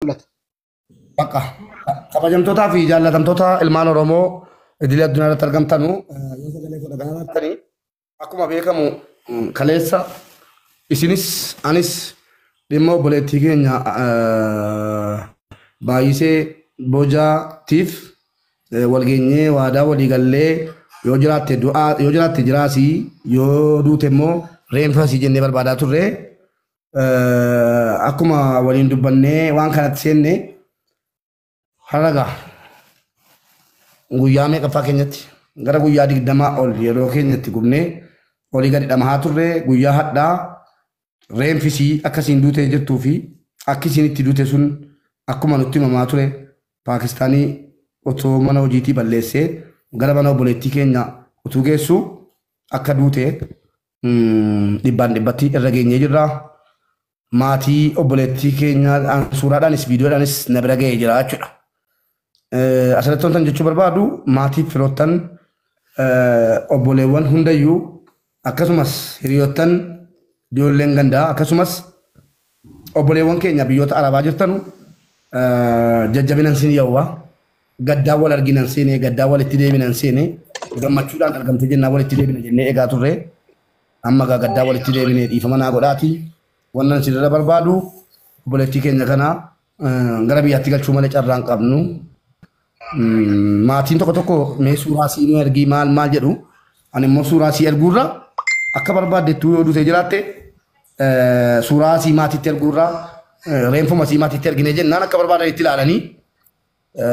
mul'ata. Bakka kabajamtootaa fi jaallatamtoota ilmaan Oromoo idilee addunyaa irratti argamtanu yoo sagalee koo dhagaa baattanii akkuma beekamu kaleessa isinis anis dhimma obboleettii keenya baay'isee bojaatiif walgeenyee waadaa walii gallee yoo jiraatte du'aa yoo jiraatte jiraasii yoo duute immoo reenfasii jennee barbaadaa turre Eh, akkuma waliin dubbannee waan kanatti seenne har'a gaa guyyaa meeqaffaa keenyatti gara guyyaa digdamaa ol yeroo keenyatti gubnee olii gadi dhamahaa turre guyyaa hadhaa reenfisii akka isiin duutee jirtuu fi akki isiin itti duute sun akkuma nutti himamaa ture paakistaanii otoo mana hojiitii balleessee gara mana obboleettii keenya utuu geessu akka duute dhibbaan dhibbatti irra geenyee jirra. Maatii obboleettii keenyaadhaan suuraadhaanis viidiyoodhaanis na bira ga'ee jira jechuudha. Asirratti wantan jechuu barbaadu maatii firoottan obboleewwan hundayyuu akkasumas hiriyoottan ijoolleen gandaa akkasumas Obboleewwan keenya biyyoota arabaa jirtanu jajjabinan siin yawwa gaddaan wal arginan seene gaddaan walitti deebinan seene gammachuudhaan argamte jennaan walitti deebina jennee egaa turre amma gaa gaddaan walitti deebine dhiifama naa godhaati wannan isinirra barbaadu obboleettii keenya kana Gara biyyaatti galchuu malee carraan qabnu. Maatiin tokko tokko mee suuraa sii nu ergii maal maal jedhu. Ani immoo suuraa sii erguurra akka barbaadettuu yoo duutee jiraatte suuraa sii maatiitti erguurra reenfuma sii maatiitti ergine jennaan akka barbaadan itti ilaalanii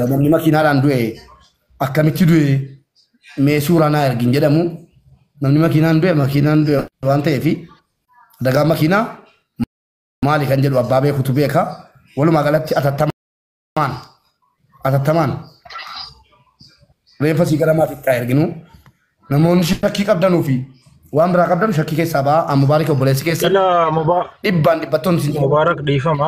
namni makiinaadhaan du'e akkamitti du'e mee suuraa naa ergin jedhamu namni makiinaan du'e makiinaan du'e waan ta'eef dagaa makiinaa maali kan jedhu abbaa beekutu beeka. Walumaa galatti atattamaan atattamaan reeffa sii gara maatiitti haa erginu. Namoonni shakkii qabdanuu fi waan biraa qabdan shakkii keessaa ba'aa. Amma baarii obboleessi keessan Ila Muba- dhibbaan dhibbattoonni isin jala Mubaarak dhiifama.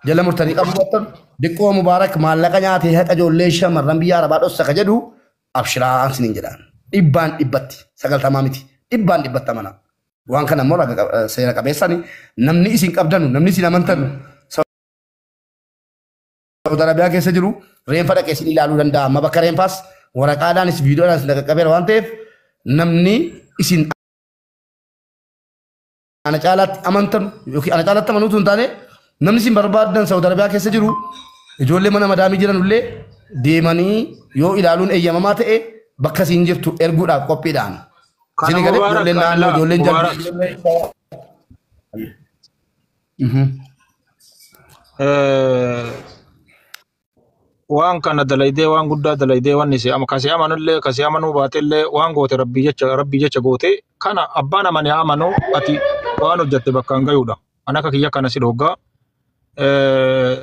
jala murtanii qabu battan diqqoo mubaarak maallaqa nyaatee haqa ijoollee shamarran biyya arabaa dhossa ka jedhu abshiraa isiniin jedhaan dhibbaan dhibbatti sagaltamaa miti dhibbaan dhibbatta mana Waan kana immoo raga- eh, seera qabeessan namni isin qabdanu, namni isin amantanu Saudi Arabiyaa keessa jiru reenfa dhaqee isin ilaaluu danda'a. Amma bakka reenfaas waraqaadhaanis viidiyoodhaan isin qaqqabeera waan ta'eef namni isin ana caalaatti amantan yookiin ana caalaatti amanuu osoo hin taane namni isin barbaadan Saudi Arabiyaa keessa jiru ijoollee mana madaamii jiran illee deemanii yoo ilaaluun eeyyamamaa ta'e bakka isin jirtu erguudhaaf qophiidhaan. Kana Isin egalee Mubaarak ijoolleen naannoo Qaadilaa ijoolleen jalbii Mubaarak ijoolleen shawaa. Mhm. eh, waan kana dalaydee waan guddaa dalaydee waan isee ama kasee amanullee kasee amanuu baatellee waan goote rabbii jecha rabbii jecha goote kana abbaan amane amanuu ati waan hojjatte bakkaan gayuudha. An akka kiyya kana si dhoggaa. Eh,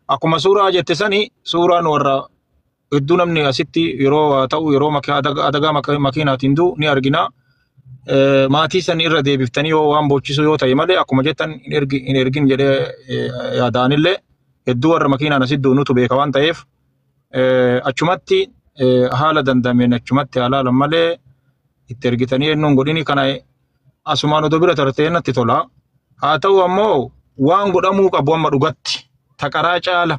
Akkuma suuraa jette sani suuraan warra hedduu namni asitti yeroo haa ta'u yeroo maki- adaga- adagaa maka- makiinaatiin du'u ni argina. Eh, Maatii san irra deebiftanii yoo waan boochisuu yoo ta'e malee akkuma jettan hin ergi- hin ergin jedhee eh, yaadaanillee hedduu warra makiinaan asitti du'u nutu beeka waan ta'eef eh, achumatti eh, haala dandameen achumatti haalaalan malee itti ergitanii eenyuun godhini kana asumaan odoo bira tartee natti tola. Haa ta'u ammoo waan godhamuu qabu amma dhugatti taqaraa caala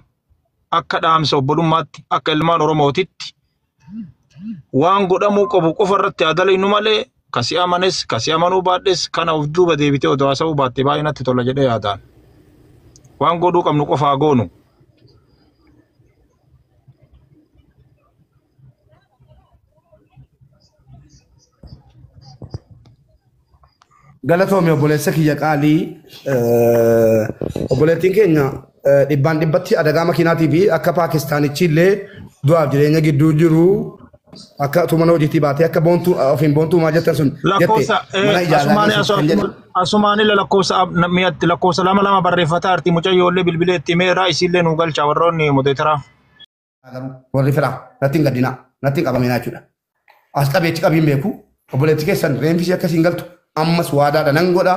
akka dhaamsa obbolummaatti akka ilmaan Oromootitti waan godhamuu qabu qofa irratti haa dalaynu malee ka si amanes ka si amanuu baadhes kana of duuba deebitee odoo haasa'uu baatte baay'ee natti tola jedhee yaadaan. Waan godhuu qabnu qofa haa goonu. Galatoomi obboleessa kiyya qaalii eh, obboleettiin keenya eh, dhibbaan dhibbatti adagaa makiinaatii fi akka paakistaanichi illee du'aaf jireenya gidduu jiru akka tuman hojiitii baatee akka boontuu ofiin boontuu maa jettan sun jette lakkoofsa mana ijaarraa asumaani keessatti kan jedhu asumaani lakkoofsa ab- na- mi'atti lakkoofsa lama lama barreeffataa arti mucayyoo illee bilbilee itti meeraa isiillee nu galcha warroonni mudeetara. garuu warri firaa natti hin gaddinaa natti hin qabaminaa jechuudha. As qabeetti qabiin beeku obboleetti keessan reenfisi akkasii hin galtu ammas waadaadha nan godha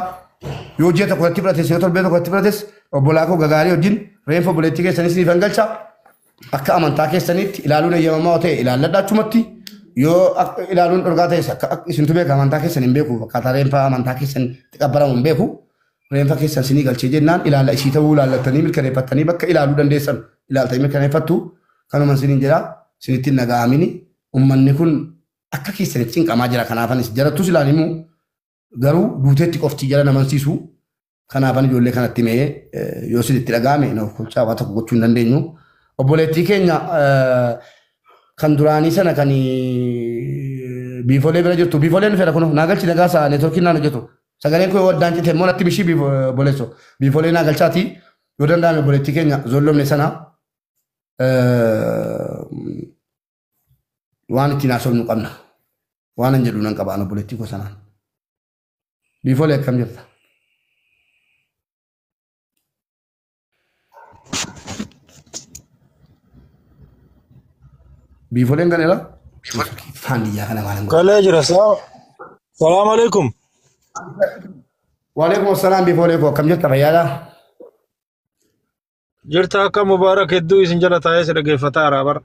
yoo ji'a tokko irratti fudhates yoo torbee tokko irratti fudhates obbolaa koo gagaarii wajjin reenfa obboleetti keessan isiniif hin galcha akka amantaa keessaniitti ilaaluun eeyyamamaa yoo ta'e ilaalladha achumatti yoo akka ilaaluun dhorgaa ta'es akka akka isintu beeka amantaa keessan hin beeku akkaataa reenfa amantaa keessan itti qabbaramu hin beeku Reenfa keessa isinii galchee jennaan ilaala isii ta'uu ilaallattanii mirkaneeffattanii bakka ilaaluu dandeessan ilaaltanii mirkaneeffattu kanuman isiniin jedha isinitti hin dhaga'amini ummanni kun akka keessanitti cinqamaa jira kanaafanis jarattus ilaan himu garuu duuteetti qofti jara namansiisu kanaafan ijoollee kanatti mee yoo isinitti dhaga'ame na ofkolchaa waa tokko gochuu hin dandeenyu obboleettii keenya kan duraanii sana kan biifolee bira jirtu biifoleen fedha kun naa galchi nagaa isaa neetworkiin naan hojjetu Sagaleen koo yoo addaan cite immoo natti bishii biif boleesso. Biifolee naa galchaati yoo danda'ame obboleettii keenya zollomne sana waan ittiin haasofnu qabna. Waan an jedhu nan qaba an obboleettii koo sanaan. Biifolee akkam jirta? Biifoleen galeera. Faan biyyaa kana waan hin godhu. Galee jira saa. Salaam alaikum. Waalaikum assalaam biifolee koo akkam jirta fayyaadha? Jirta akka Mubaarak hedduu isin jala taa'ee si dhaggeeffataa jira bara.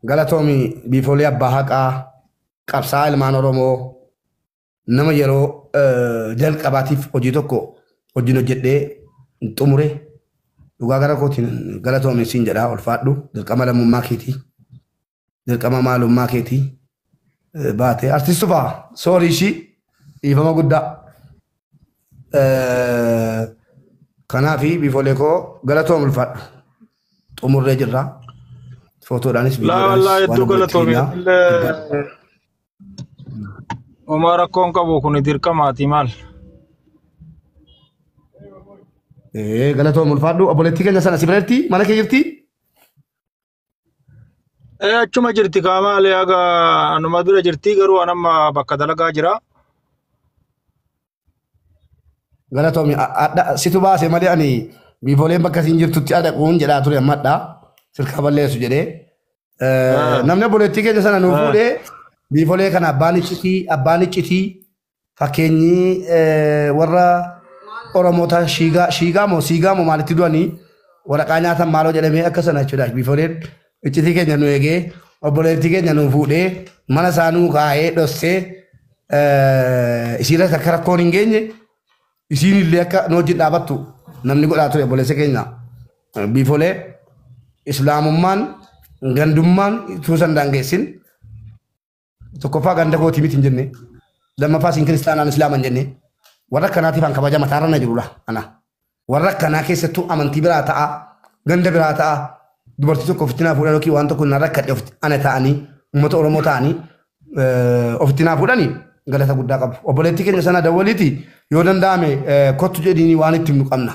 Galatoomi biifolee abbaa haqaa qabsaa ilmaan Oromoo nama yeroo jalqabaatiif hojii tokko hojiin hojjedhee xumure dhugaa gara kootiin galatoomi siin jedhaa ulfaadhu dirqama lammummaa keetii dirqama maalummaa keetii baatee artistu fa'a soorii ishii dhiifama guddaa kanaaf biifolee koo galatoom ulfaadhu xumurree jirra footoodhaanis Laa wallaa viidiyoodhaanis hedduu waan galatoomi. hojjennaa. Illee Homaa rakkoon qabu kun dirqamaati maal? Ee galatoom ulfaadhu obboleettii keenya sana si bira jirti mana kee jirti Ee achuma jirti kaa maali haga anuma bira jirti garuu anamma bakka dalagaa jira. Galatoomi adha situ baase malee ani biifooleen bakka siin jirtutti adhaquun jedhaa ture amma adha sirkaa balleessu jedhee. Ah. Namni obboleettii keenya sana nuu Ah. fuudhee biifoolee kana abbaan iccitii abbaan iccitii fakkeenyi eh, warra Oromoota shiigaa shiigaa moo siigaa moo maalitti du'anii waraqaa nyaatan maaloo jedhamee akka sana jechuudha biifooleen Iccitii keenya nu eegee obboleettii keenya nu fuudhee mana isaa nuu kaa'ee dhossee eh, isiirratti akka rakkoon hin geenye isiin illee akka nu wajjin dhaabattu namni godhaa ture obboleessa keenya Eh, biifolee islaamummaan gandummaan tuusan daangeessin Tokkoffaa ganda kooti miti hin jenne. Lammaffaa siin kiristaanaan islaama hin jenne. Warra akkanaatiif an kabaja mataarra na jirudha. Ana. Warra akkanaa keessattuu amantii biraa ta'a. Ganda biraa ta'a. Dubartii tokko ofitti naa fuudhan yookiin waan tokko na rakkadhe ofitti ana ta'anii uummata Oromoo ta'anii eh, ofitti naa fuudhanii galata guddaa qabu. Obboleettii keenya sana dawwaliiti yoo danda'ame eh, kottu jedhiinii waan itti himnu qabna.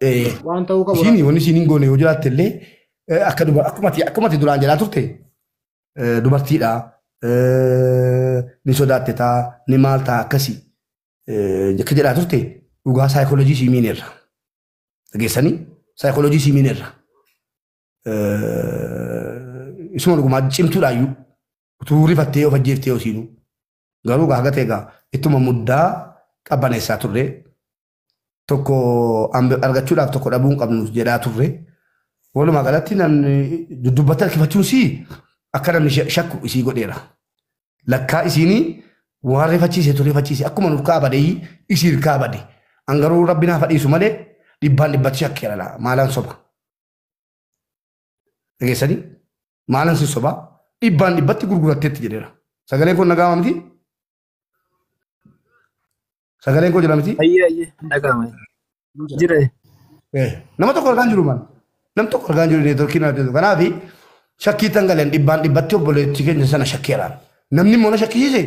Eh, Waan ta'uu qabu. Isiin wanni isiin hin goone yoo jiraatte illee eh, akka duba- akkuma ati- akkuma ati duraan jedhaa turte eh, dubartiidha eh, ni sodaatte taa ni maal taa akkasi eh, akka jedhaa turte dhugaa saayikoolojii sii miineerra dhageessanii saayikoolojii sii miineerra Eh, isuma dhugumaa cimtuudhaayyuu utuu rifattee of ajjeeftee osiinuu garuu gaa gatee gaa ittuma muddaa qabbaneessaa turre tokko argachuudhaaf tokko dhabuu hin qabnu jedhaa turre. Walumaa galatti namni duddubbatti harkifachuun sii akka namni shakku isii godheera. Lakkaa isiinii waan rifachiise tu rifachiise akkuma nurkaa badee isii irkaa bade. An garuu rabbi naa fadhiisu malee dhibbaan dhibbatti shakkeera laa maalaan soba. Dhageessanii maalaan sin sobaa dhibbaan dhibbatti gurguratteetti jedheera. Sagaleen kun nagaa miti Sagaleen koo jira miti? Ayyee ayyee hin dhaga'ama. Jira. Eh, Nama tokko argaan jiru man. Nam tokko argaan jiru neetworkiin adda jiru. Kanaaf shakkii tan galeen dhibbaan dhibbatti obboleettii keenya sana shakkeeraan. Namni immoo na shakkisiise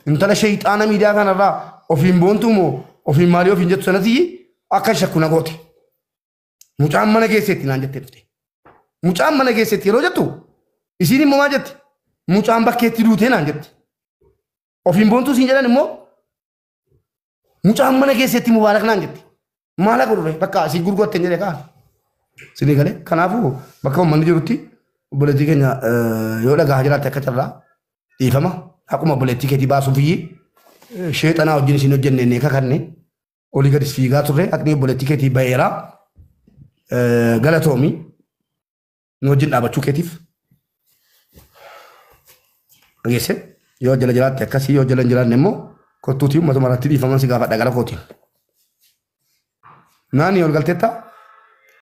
intala sheeyxaana miidiyaa kanarraa ofiin boontuu moo ofiin maalii ofiin jettu sanatti akka shakku na goote. Mucaan mana keesseetti naan jettee dhufte. Mucaan mana keesseetti yeroo jettu isiin immoo maal jetti? Mucaan bakkeetti duutee naan jetti. Ofiin boontuu siin jedhan immoo mucaan mana keesseetti mubaarak naan jetti. Maal akka dhufe bakka isin gurgurte hin jedhe kaa. Sinii galee kanaafuu bakka uummanni jirutti obboleettii keenya eh, yoo dhagahaa jiraatte akka carraa dhiifama akkuma obboleettii keetii baasuuf iyyii sheexanaa wajjin isin hojjenne inni kakanne olii gadis fiigaa turre haqni obboleettii keetii ba'eera galatoomi nu wajjin dhaabachuu keetiif dhageesse yoo jala jiraatte akkasii yoo jala hin jiraanne immoo kottuutii uummatuma irratti dhiifaman si gaafadha gara kootiin. Naani ol galteetta?